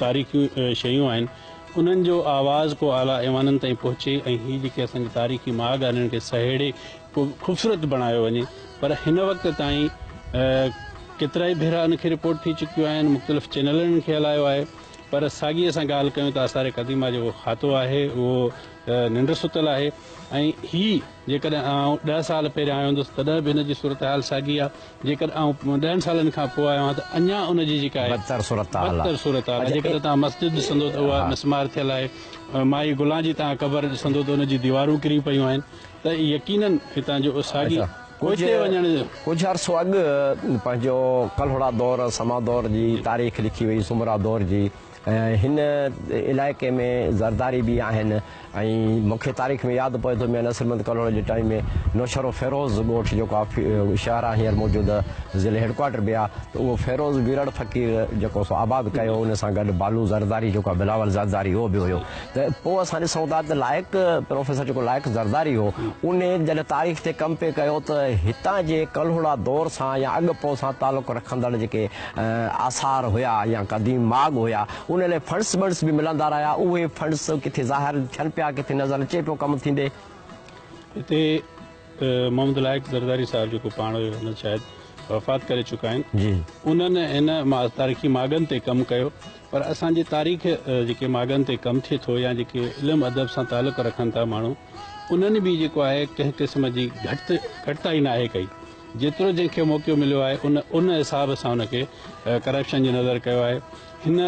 تاريخي شيون آهن انهن جو آواز ڪو اعليٰ ايوانن تائين پهچي ۽ هي جيڪي اسان جي تاريخي ماڳ آهن انهن کي سهيڙي ڪو خوبصورت بڻايو وڃي پر هن وقت تائين ڪيترائي ڀيرا ان کي رپورٽ ٿي چڪيون آهن مختلف چينلن کي هلايو آهي پر ساڳي اسان ڳالهه ڪيون ته آثار قديمه جو کاتو آهي اهو ننڊ ستل آهي ۽ هي جيڪڏهن آئون ڏهه سال پهريان آيو هوندس تڏهن به هن جي صورتحال ساڳي آ، جيڪڏهن آئون ڏهن سالن کان پوء آيو آهيان ته اڃا ان جي جيڪا آهي بدتر صورتحال آ. بدتر صورتحال آ، جيڪڏهن توهان مسجد ڏسندو ته اها مسمار ٿيل آهي، مائي گلان جي توهان قبر ڏسندو ته ان جي ديوارون ڪري پيون آهن ته يقيناً هتان جو ساڳي پوئتي وڃڻ. ڪجهه عرصو اڳ پنهنجو ڪلهوڙا دور، سما دور جي تاريخ لکي وئي، سومرا دور جي. هن علائقي ۾ زرداري به آهن ۽ مون کي تاريخ ۾ ياد پوي ٿو ميان نصر محمد ڪلهوڙي جي ٽائيم ۾ نوشهرو فيروز ڳوٺ جيڪو آفي شهر آهي هينئر موجوده ضلعي هيڊ ڪوارٽر به آهي ته اهو فيروز ويرڙ فقير جيڪو سو آباد ڪيو ان سان گڏ بالو زرداري جيڪو آهي بلاول زرداري اهو به هيو ته پوء اسان ڏسون ٿا ته لائق پروفيسر جيڪو لائق زرداري هو ان جڏهن تاريخ تي ڪم پي ڪيو ته هتان جي ڪلهوڙا دور سان يا اڳ پوء سان تعلق رکندڙ جيڪي آثار هيا يا قديم ماڳ هيا ان لاء فنڊس بنڊس به ملندا رهيا اهي فنڊس ڪٿي ظاهر ٿين پيا ڪٿي نظر اچي پيو ڪم ٿيندي. هتي محمد لائق زرداري صاحب جيڪو پاڻ هيو هن شايد وفات ڪري چڪا آهن انهن هن تاريخي ماڳن تي ڪم ڪيو پر اسان جي تاريخ جيڪي ماڳن تي ڪم ٿئي ٿو يا جيڪي علم ادب سان تعلق رکن ٿا ماڻهو انهن به جيڪو آهي ڪنهن قسم جي گهٽ گهٽتائي ناهي ڪئي جيترو جنهن کي موقعو مليو آهي ان ان حساب سان ان کي ڪرپشن جي نظر ڪيو آهي هن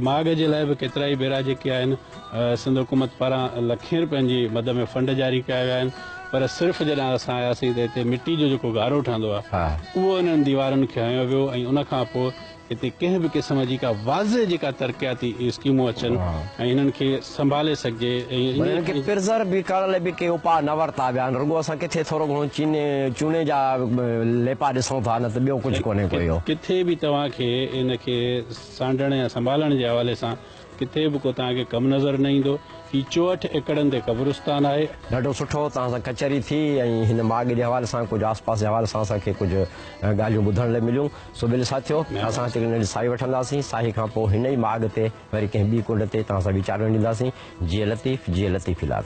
ماڳ جي لاء به ڪيترائي ڀيرا جيڪي آهن سنڌ حڪومت پاران لکين روپين جي مد ۾ فنڊ جاري ڪيا ويا آهن پر صرف جڏهن اسان آياسين ته هتي مٽي جو جيڪو گارو ٺهندو آهي اهو انهن ديوارن کي هنيو ويو ۽ ان کان پوء هتي ڪنهن به قسم جي ڪا واضح جيڪا ترقياتي اسڪيمون اچن ۽ هنن کي سنڀالي سگهجي ۽ هنن کي پرزر وي ڪرڻ لئي به ڪي اپاء نه ورتا ويا آهن رڳو اسان ڪٿي ٿورو گهڻو چيني چوني جا ليپا ڏسون ٿا نه ته ٻيو ڪجهه ڪونهي ڪو اهو. ڪٿي به توهان کي ان کي سانڍڻ يا سنڀالڻ جي حوالي سان ڪٿي به ڪو توهان کي ڪم نظر نه ايندو. هي چوهٺ ايڪڙن تي قبرستان آهي. ڏاڍو سٺو توهان سان ڪچهري ٿي ۽ هن ماڳ جي حوالي سان ڪجهه آس پاس جي حوالي سان اسان کي ڪجهه ڳالهيون ٻڌڻ لاء مليون سو ٻيلي ساٿيو اسان هتي ننڍي ساهي وٺنداسين ساهي کان پوء هن ئي ماڳ تي وري ڪنهن ٻي ڪنڊ تي توهان سان ويچار ونڊينداسين جيئي لطيف جيئي لطيف الاد.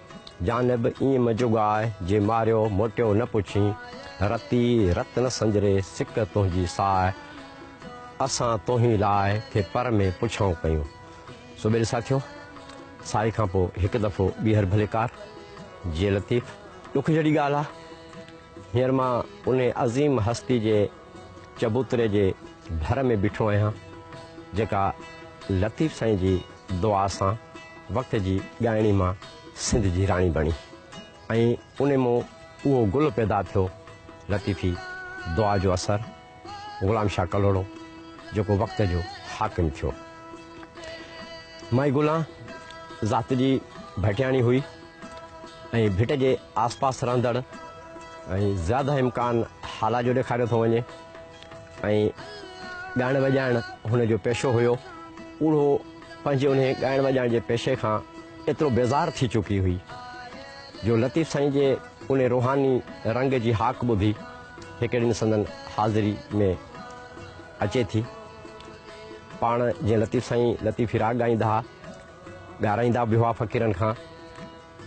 جانب ايئن منهنجو ڳاء، جي ماريو موٽيو نه پڇين، رتي رت نه سنجري سڪ تنهنجي ساء، اسان توهين لاء ٿي پر ۾ پڇائون ڪيون. سو ٻيلي ساٿيو، سائي کان پوء هڪ دفعو ٻيهر ڀليڪار، جي لطيف. ڏک جھڙي ڳالهه آ، هينئر مان انهيء عظيم هستي جي. چبوتري جي ڀر ۾ بيٺو آهيان، جيڪا لطيف سائين جي دعا سان وقت جي ڳائڻي مان سنڌ جي راڻي بڻي ۽ ان مون اهو گل پيدا ٿيو لطيفي دعا جو اثر غلام شاهه ڪلهوڙو جيڪو وقت جو حاڪم ٿيو. مائي گلان ذات جي ڀٽياڻي هئي. ۽ ڀٽ جي آس پاس رهندڙ ۽ زياده امڪان حالا جو ڏيکاريو ٿو وڃي ۽ ڳائڻ وڄائڻ هن جو پيشو هيو اهو پنهنجي انهي ڳائڻ وڄائڻ جي پيشي کان ايترو بيزار ٿي چڪي هئي جو لطيف سائين جي انهي روحاني رنگ جي هاڪ ٻڌي هڪڙي ڏينهن سندن حاضري ۾ اچي ٿي پاڻ جيئن لطيف سائين لطيفي راڳ ڳائيندا هئا ڳارائيندا به هئا فقيرن کان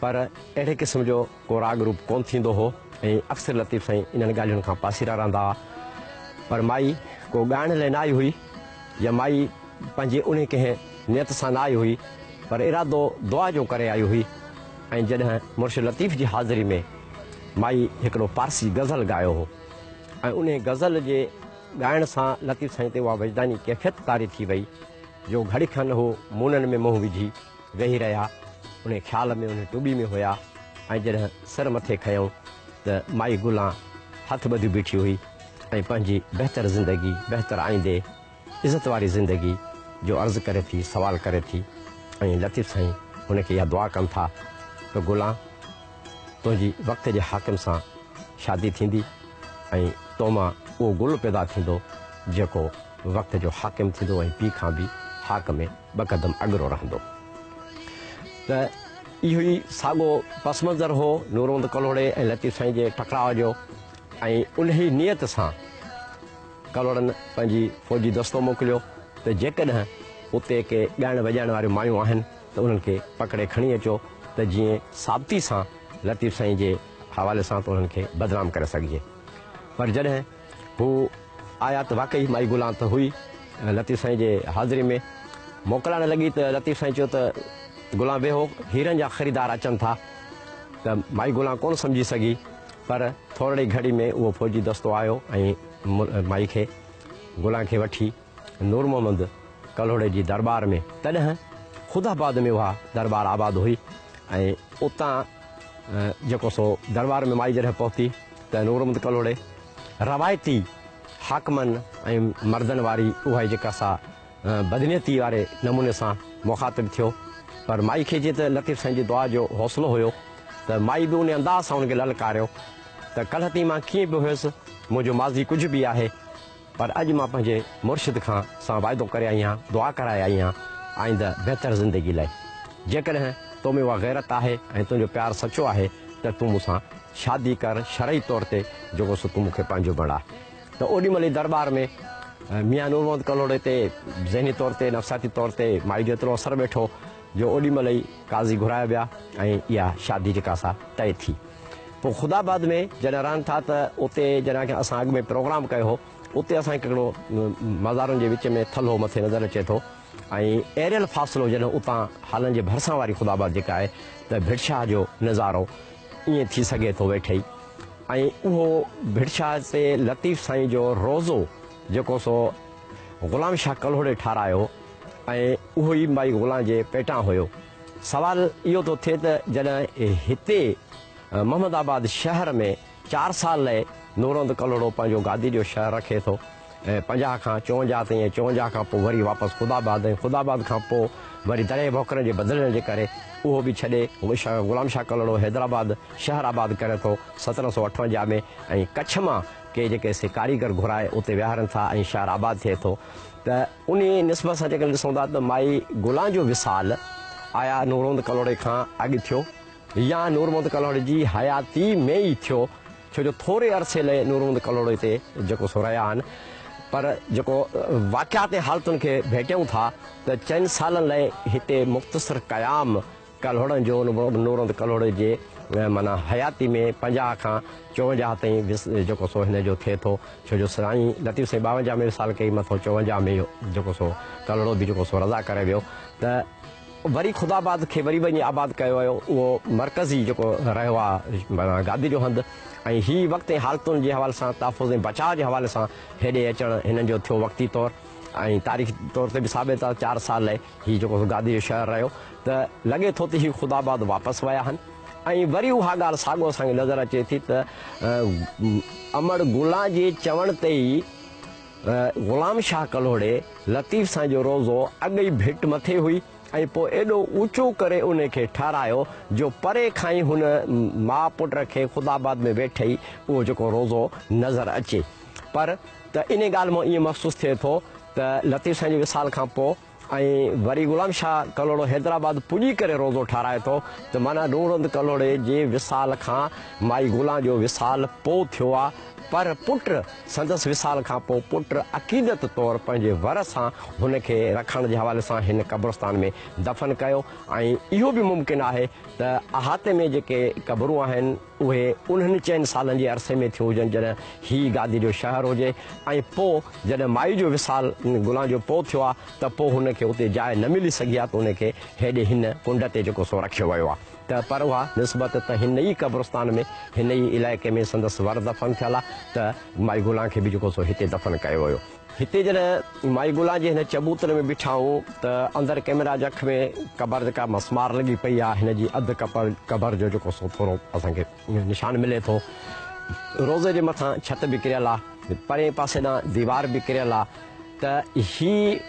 پر اهڙي قسم جو ڪو راڳ روپ ڪونه ٿيندو هو ۽ اڪثر لطيف سائين انهن ڳالهين کان پاسيرا رهندا هئا پر مائي ڪو ڳائڻ لاء نه آئي هئي يا مائي پنهنجي انهي ڪنهن نيت سان نه آئي هئي پر ارادو دعا جو ڪري آئي هئي ۽ جڏهن مرشد لطيف جي حاضري ۾ مائي هڪڙو پارسي غزل ڳايو هو ۽ انهي غزل جي ڳائڻ سان لطيف سائين تي اها وجداني ڪيفيت طاري ٿي وئي جو گهڙي کن هو مونن ۾ منهن وجهي ويهي رهيا، انهي خيال ۾ انهي ٽٻي ۾ هيا ۽ جڏهن سر مٿي کنيائون ته مائي گلان هٿ ٻڌيو بيٺي هئي ۽ پنهنجي بهتر زندگي، بهتر آئيندي، عزت واري زندگي جو عرض ڪري ٿي، سوال ڪري ٿي ۽ لطيف سائين هن کي اها دعا ڪن ٿا ته گلان! تنهنجي وقت جي حاڪم سان شادي ٿيندي ۽ تو مان اهو گل پيدا ٿيندو جيڪو وقت جو حاڪم ٿيندو ۽ پيء کان به حاڪ ۾ ٻه قدم اڳرو رهندو. ته اهو ئي ساڳو پس منظر هو نورمحمد ڪلهوڙي ۽ لطيف سائين جي ٽڪراء جو ۽ انهي نيت سان ڪلهوڙن پنهنجي فوجي دستو موڪليو ته جيڪڏهن اتي ڪي ڳائڻ وڄائڻ واريون مايون آهن ته انهن کي پڪڙي کڻي اچو ته جيئن ثابتي سان لطيف سائين جي حوالي سان ته انهن کي بدنام ڪري سگهجي. پر جڏهن هو آيا ته واقعي مائي گلان ته هئي لطيف سائين جي حاضري ۾ موڪلائڻ لڳي ته لطيف سائين چيو ته گلان ويهو هيرن جا خريدار اچن ٿا ته مائي گلان ڪونه سمجهي سگهي پر ٿورڙي گهڙي ۾ اهو فوجي دستو آيو ۽ مائي کي گلان کي وٺي نور محمد ڪلهوڙي جي درٻار ۾ تڏهن خود آباد ۾ اها درٻار آباد هئي ۽ اتان جيڪو سو درٻار ۾ مائي جڏهن پهتي ته نور محمد ڪلهوڙي روايتي حاڪمن ۽ مردن واري اها جيڪا سا بدنيتي واري نموني سان مخاطب ٿيو پر مائي کي جي ته لطيف سائين جي دعا جو حوصلو هيو ته مائي به ان انداز سان هن کي للڪاريو ته ڪلهتي مان ڪيئن به هيس منهنجو ماضي ڪجهه به آهي پر اڄ مان پنهنجي مرشد کان سان وعدو ڪري آئي آهيان، دعا ڪرائي آئي آهيان آئنده بهتر زندگي لاء. جيڪڏهن تو ۾ اها غيرت آهي ۽ تنهنجو پيار سچو آهي ته تون مون سان شادي ڪر شرعي طور تي جيڪو سو تون مون کي پنهنجو بڻاء. ته اوڏي مهل ئي درٻار ۾ ميان نور محمد ڪلهوڙي تي ذهني طور تي نفسياتي طور تي مائي جو ايترو اثر ويٺو جو اوڏي مهل ئي قاضي گهرايا ويا ۽ اها شادي جيڪا سا طئي ٿي. پوء خدا آباد ۾ جڏهن رهن ٿا ته اتي جڏهن اسان اڳ ۾ پروگرام ڪيو هو اتي اسان کي هڪڙو مزارن جي وچ ۾ ٿلهو مٿي نظر اچي ٿو ۽ ايريل فاصلو جڏهن اتان هالن جي ڀرسان واري خدا آباد جيڪا آهي ته ڀٽشاهه جو نظارو ائين ٿي سگهي ٿو ويٺي ۽ اهو ڀٽشاهه تي لطيف سائين جو روزو جيڪو سو غلام شاهه ڪلهوڙي ٺارايو ۽ اهو ئي مائي غلام جي پيٽان هيو سوال اهو ٿو ٿئي ته جڏهن هتي محمد آباد شهر ۾ چار سال لئه نورهند ڪلهوڙو پنهنجو گادي جو شهر رکي ٿو ۽ پنجاهه کان چونجاهه تائين ۽ چونجاهه کان پوء وري واپس خدا آباد ۽ خدا آباد کان پوء وري دريء ڀوڪرن جي بدلجڻ جي ڪري اهو به ڇڏي غلام شاهه ڪلهوڙو حيدرآباد شهر آباد ڪري ٿو سترهن سؤ اٺونجاهه ۾ ۽ ڪڇ مان ڪي جيڪي سي ڪاريگر گهرائي اتي ويهارين ٿا ۽ شهر آباد ٿئي ٿو. ته انهيء نسبت سان جيڪڏهن ڏسون ٿا ته مائي گلان جو وصال آيا نورمحمد ڪلهوڙي کان اڳ ٿيو يا نورمحمد ڪلهوڙي جي حياتي ۾ ئي ٿيو ڇو جو ٿوري عرصي لئي نورمحمد ڪلهوڙي تي جيڪو سو رهيا آهن پر جيڪو واقعات ۽ حالتن کي ڀيٽيون ٿا ته چئن سالن لئي هتي مختصر قيام ڪلهوڙن جو نورند ڪلهوڙي جي معنيٰ حياتي ۾ پنجاهه کان چوونجاهه تائين وس جيڪو سو هن جو ٿئي ٿو ڇو جو سائين لطيف سائين ٻاونجاهه ۾ وصال ڪئي مٿو چوونجاهه ۾ جيڪو سو ڪلهوڙو به جيڪو سو رضا ڪري ويو ته وري خداآباد کي وري وڃي آباد ڪيو ويو اهو مرڪزي جيڪو رهيو آهي معنيٰ گادي جو هنڌ ۽ هي وقت ۽ حالتن جي حوالي سان تحفظ ۽ بچاء جي حوالي سان هيڏي اچڻ هنن جو ٿيو وقتي طور ۽ تاريخي طور تي به ثابت آهي چار سال هي جيڪو سو گادي جو شهر رهيو ته لڳي ٿو ته هي خود آباد واپس ويا آهن ۽ وري اها ڳالهه ساڳو اسان کي نظر اچي ٿي ته امڙ گلان جي چوڻ تي ئي غلام شاهه ڪلهوڙي لطيف سان جو روزو اڳ ئي ڀٽ مٿي هئي ۽ پوء ايڏو اوچو ڪري ان کي ٺهرايو جو پري کان ئي هن ماء پٽ کي خود آباد ۾ ويٺي اهو جيڪو روزو نظر اچي پر ته انهيء ڳالهه مان ائين محسوس ٿئي ٿو ته لطيف سائين جي وصال کان پوء ۽ وري غلام شاهه ڪلهوڙو حيدرآباد پڄي ڪري روضو ٺهرائي ٿو ته معنيٰ نورهند ڪلهوڙي جي وصال کان مائي گلان جو وصال پوء ٿيو آ پر پٽ سندس وصال کان پوء پٽ عقيدت طور پنهنجي ور سان هن کي رکڻ جي حوالي سان هن قبرستان ۾ دفن ڪيو ۽ اهو به ممڪن آهي ته احاطي ۾ جيڪي قبرون آهن اهي انهن چئن سالن جي عرصي ۾ ٿيون هجن جڏهن هي گادي جو شهر هو جي ۽ پوء جڏهن مائي جو وصال ان گلان جو پوء ٿيو آ ته پوء هن کي اتي جاء نه ملي سگهي آ ته ان کي هيڏي هن ڪنڊ تي جيڪو سو رکيو ويو آ ته پر اها نسبت ته هن ئي قبرستان ۾ هن ئي علائقي ۾ سندس ور دفن ٿيل آ ته مائي گلان کي به جيڪو سو هتي دفن ڪيو ويو. هتي جڏهن مائي گلان جي هن چبوتر ۾ بيٺائون ته اندر ڪئميرا جي اک ۾ قبر جي ڪا مسمار لڳي پئي آ هن جي اڌ ڪپر قبر جو جيڪو سو ٿورو اسان کي نشان ملي ٿو روضي جي مٿان ڇت به ڪريل آ پرين پاسي ڏانهن ديوار به ڪريل آ ته هي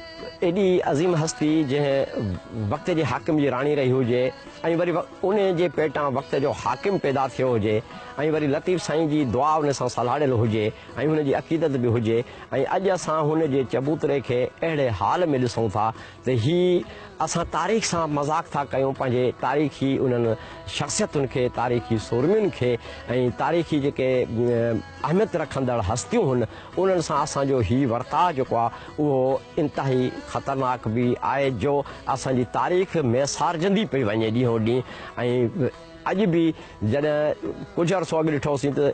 ايڏي عظيم هستي جنهن وقت جي حاڪم جي راڻي رهي هجي ۽ وري ان جي پيٽان وقت جو حاڪم پيدا ٿيو هجي ۽ وري لطيف سائين جي دعا ان سان سلهاڙيل هجي ۽ هن جي عقيدت به هجي ۽ اڄ اسان هن جي چبوتري کي اهڙي حال ۾ ڏسون ٿا ته هي اسان تاريخ سان مذاق ٿا ڪيون پنهنجي تاريخي انهن شخصيتن کي تاريخي سورمين کي ۽ تاريخي جيڪي اهميت رکندڙ هستيون هن انهن سان اسان جو هي ورتاء جيڪو آهي اهو انتهائي خطرناڪ به آهي جو اسان جي تاريخ ميسارجندي پئي وڃي ڏينهون ڏينهن ۽ اڄ به جڏهن ڪجهه عرصو اڳ ڏٺو هوسين ته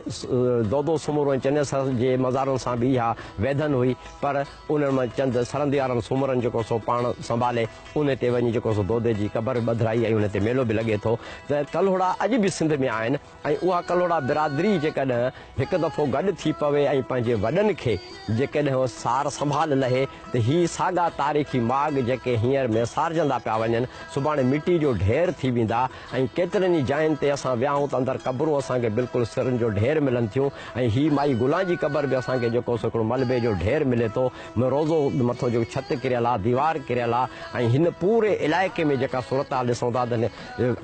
دودو سومرو ۽ چنيسر سر جي مزارن سان به اها ويڌن هئي پر انهن مان چند سرنديارن سومرن جيڪو سو پاڻ سنڀالي انهي تي وڃي جيڪو سو دودي جي قبر ٻڌرائي ۽ انهي تي ميلو به لڳي ٿو ته ڪلهوڙا اڄ به سنڌ ۾ آهن ۽ اها ڪلهوڙا برادري جيڪڏهن هڪ دفعو گڏ ٿي پوي ۽ پنهنجي وڏن کي جيڪڏهن سار سنڀال لهي ته هي ساڳا تاريخي ماڳ جيڪي هينئر ميسارجندا پيا وڃن سڀاڻي مٽي جو ڍير ٿي ويندا. ۽ ڪيترين ئي جاين تي اسان ويا آهيون ته اندر قبرون اسان کي بلڪل سرن جو ڍير ملن ٿيون ۽ هي مائي گلان جي قبر به اسان کي جيڪو سو هڪڙو ملبي جو ڍير ملي ٿو م روضو مٿو جيڪو ڇت ڪريل آهي ديوار ڪريل آهي ۽ هن پوري علائقي ۾ جيڪا صورتحال ڏسون ٿا ته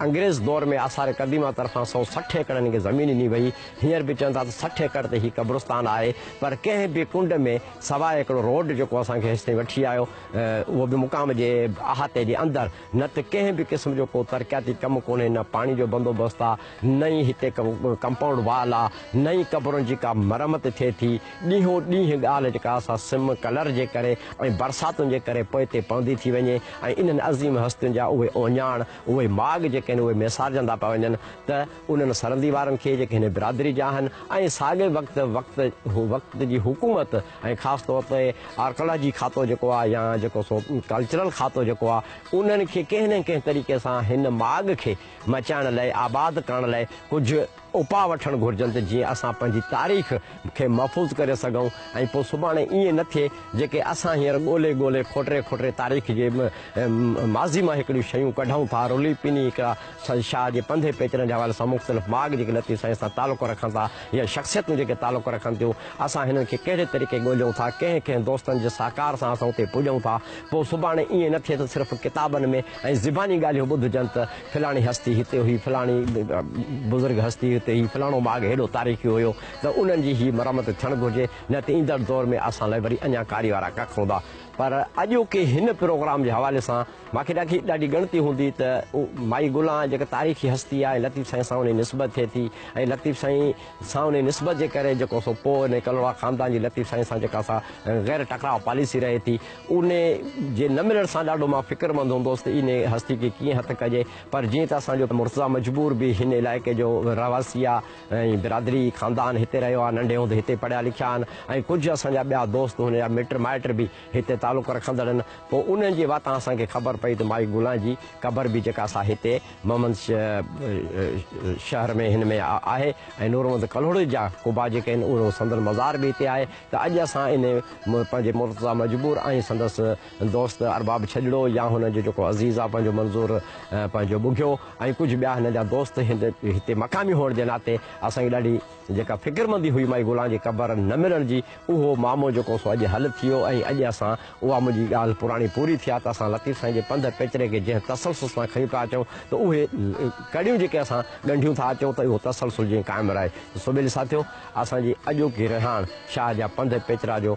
انگريز دور ۾ آثار قديمه طرفان سؤ سٺ ايڪڙ هن کي زمين ڏني وئي هينئر به چون ٿا ته سٺ ايڪڙ تي هي قبرستان آهي پر ڪنهن به ڪنڊ ۾ سواء هڪڙو روڊ جيڪو اسان کي هيستائين وٺي آيو اهو به مقام جي احاطي جي اندر نه ته ڪنهن به قسم جو ڪو ترقياتي ڪم ڪونهي، نه پاڻي جو بندوبست آ، نه ئي هتي ڪو ڪمپائونڊ وال آ، نه ئي قبرن جي ڪا مرمت ٿئي ٿي. ڏينهون ڏينهن ڳالهه جيڪا سا سم ڪلر جي ڪري ۽ برساتن جي ڪري پوئتي پوندي ٿي وڃي ۽ انهن عظيم هستين جا اهي اوڃاڻ، اهي ماڳ جيڪي آهن اهي ميسارجندا پيا وڃن ته انهن سرندي وارن کي جيڪي هن برادري جا آهن ۽ ساڳئي وقت وقت وقت جي حڪومت ۽ خاص طور تي آرڪالاجي کاتو جيڪو آهي يا جيڪو سو ڪلچرل کاتو جيڪو آهي انهن کي ڪنهن نه ڪنهن طريقي سان هن ماڳ کي مچائڻ لئي آباد ڪرڻ لئي ڪجهه اپاء وٺڻ گهرجن ته جيئن اسان پنهنجي تاريخ کي محفوظ ڪري سگهون ۽ پوء سڀاڻي ائين نه ٿئي جيڪي اسان هينئر ڳولي ڳولي کوٽري کوٽري تاريخ جي ماضي مان هڪڙيون شيون ڪڍون ٿا رلي پني هڪڙا سائين شاهه جي پنڌي پيچرن جي حوالي سان مختلف ماڳ جيڪي لطيف سائين سان تعلق رکن ٿا يا شخصيتون جيڪي تعلق رکن ٿيون اسان هنن کي ڪهڙي طريقي ڳوليون ٿا ڪنهن ڪنهن دوستن جي سهڪار سان اسان اتي پڄون ٿا پوء سڀاڻي ائين نه ٿئي ته صرف ڪتابن ۾ ۽ زباني ڳالهيون ٻڌجن ته فلاڻي هستي هتي هئي فلاڻي بزرگ هستي هتي هئي فلاڻو ماڳ هيڏو تاريخي هيو ته انهن جي هي مرمت ٿيڻ گهرجي نه ته ايندڙ دور ۾ اسان لاء وري اڃا ڪاري وارا ڪک هوندا پر اڄوڪي هن پروگرام جي حوالي سان مان کي ڏاکي ڏاڍي ڳڻتي هوندي ته مائي گلان جيڪا تاريخي هستي آهي لطيف سائين سان ان جي نسبت ٿئي ٿي ۽ لطيف سائين سان ان جي نسبت جي ڪري جيڪو سو پوء ان ڪلهوڙا خاندان جي لطيف سائين سان جيڪا سا غير ٽڪراء پاليسي رهي ٿي ان جي نه ملڻ سان ڏاڍو مان فڪرمند هوندوس ته ان هستي کي ڪيئن هٿ ڪجي پر جيئن ته اسان جو مرتضيٰ مجبور به هن علائقي جو رهواسي آهي ۽ برادري خاندان هتي رهيو آهي ننڍي هوندي هتي پڙهيا لکيا آهن ۽ ڪجهه اسان جا ٻيا دوست هن جا مٽ مائٽ به هتي تعلق رکندڙن پوء انهن جي واتان اسان کي خبر پئي ته مائي گلان جي قبر به جيڪا سا هتي محمد شهر ۾ هن ۾ آهي ۽ نورمحمد ڪلهوڙي جا قبا جيڪي آهن اهو سندن مزار به هتي آهي ته اڄ اسان ان پنهنجي مرتضيٰ مجبور ۽ سندس دوست ارباب ڇڄڙو يا هن جو جيڪو عزيز آهي پنهنجو منظور پنهنجو ٻگهيو ۽ ڪجهه ٻيا هن جا دوست هتي مقامي هئڻ جي ناتي اسان کي ڏاڍي جيڪا فڪرمندي هئي مائي گلان جي قبر نه ملڻ جي، اهو معمو جيڪو سو اڄ حل ٿيو ۽ اڄ اسان اها منهنجي ڳالهه پراڻي پوري ٿي آ ته اسان لطيف سائين جي پنڌ پيچري کي جنهن تسلسل سان کڻي پيا اچون ته اهي ڪڙيون جيڪي اسان ڳنڍيون ٿا اچون ته اهو تسلسل جيئن قائم رهي ته سو ٻيلي ساٿيو اسان جي اڄوڪي رهاڻ شاهه جا پنڌ پيچرا جو